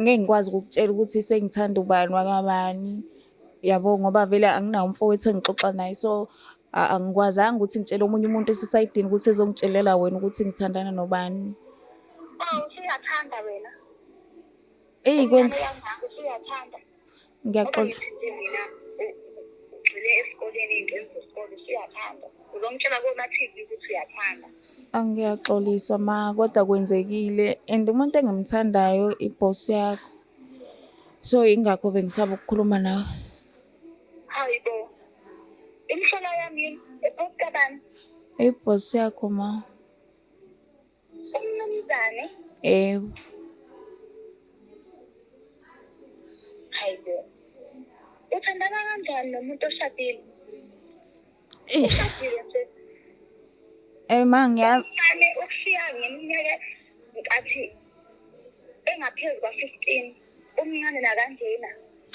ngeke ngikwazi ukukutshela ukuthi sengithanda ubani wakabani yabo ngoba vele anginawo umfowethu engixoxa naye so angikwazanga ukuthi ngitshele omunye umuntu esisayidini ukuthi ezongitshelela wena ukuthi ngithandana nobani usuyathanda wena eyi kwenza usuyathanda ngiyaxoxa ugxile esikoleni ingxenzi zesikole usuyathanda uzomtshela komathiki ukuthi uyathanda angiyaxolisa ma kodwa kwenzekile and umuntu engimthandayo ibhosi yakho so ingakho bengisaba ukukhuluma nawe hayi bo imhlola yami ibhosi kabani ibhosi yakho ma Umnumzane. Ewu. Hayibo. Uthandana kanjani nomuntu oshadile? Eh. Ushadile nje. Eh ma ngiyazi. Ngane ukushiya ngeminyaka nkathi engaphezulu kwa-15 umncane nakanjena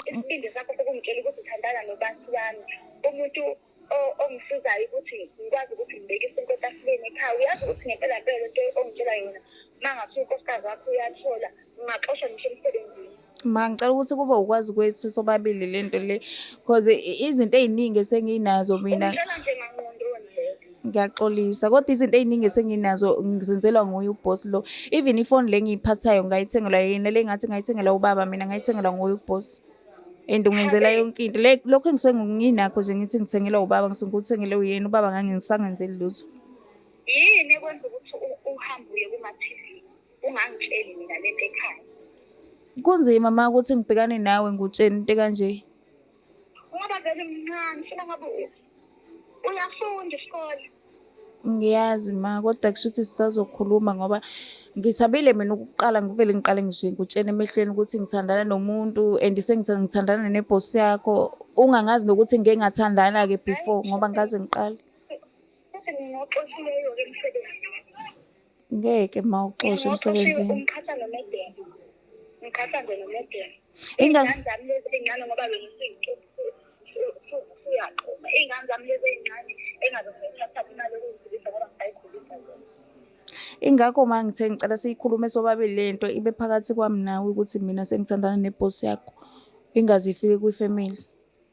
isibindi sakho sokumtshela ukuthi uthandana nobantu bami umuntu ongisizayo ukuthi ngikwazi ukuthi ngibeke isinto etafuleni ekhaya uyazi ukuthi ngempela mpela lento ongitshela yona uma ngathi unkosikazi wakho uyathola ungaxoshwa ngisho emsebenzini ma ngicela ukuthi kube ukwazi kwethu sobabili le nto le cause izinto ey'ningi esenginazo mina ngiyaxolisa kodwa izinto ey'ningi esenginazo ngizenzelwa nguye ubhosi lo even ifoni le ngiyiphathayo ngayithengelwa yena le ngathi ngayithengelwa ubaba mina ngayithengelwa nguye ubhosi and ungenzela yonke into like lokho engisuke nginakho nje ngithi ngithengelwa ubaba ngisuke ngikuthengele uyena ubaba ngangingisangenzeli lutho yini ekwenza ukuthi uhambe uye kuma-tv ungangitsheli mina le nto ekhaya kunzima ma ukuthi ngibhekane nawe ngutsheni into kanje ngoba vele mncane funa ngabe uyafunda isikole ngiyazi ma kodwa kusho ukuthi sisazokhuluma ngoba ngisabile mina ukuqala ngivele ngiqale ngisho ngikutshena emehlweni ukuthi ngithandana nomuntu and sengithandana nebhosi yakho ungangazi nokuthi ngike ngathandana-ke before ngoba ngaze ngiqale ngeke ma uxoshe emsebenzini umkhahlane nomedeni umkhahlane nomedeni ingane zami lezi ezincane ngoba wena usuyaqoma ingane zami lezi ezincane engazosithatha imali yokuziphilisa ngoba ngisayikhulisa zona ingakho ma ngithe ngicela siyikhulume sobabili le nto ibe phakathi kwami nawe ukuthi mina sengithandana nebhosi yakho ingaze ifike kwifamily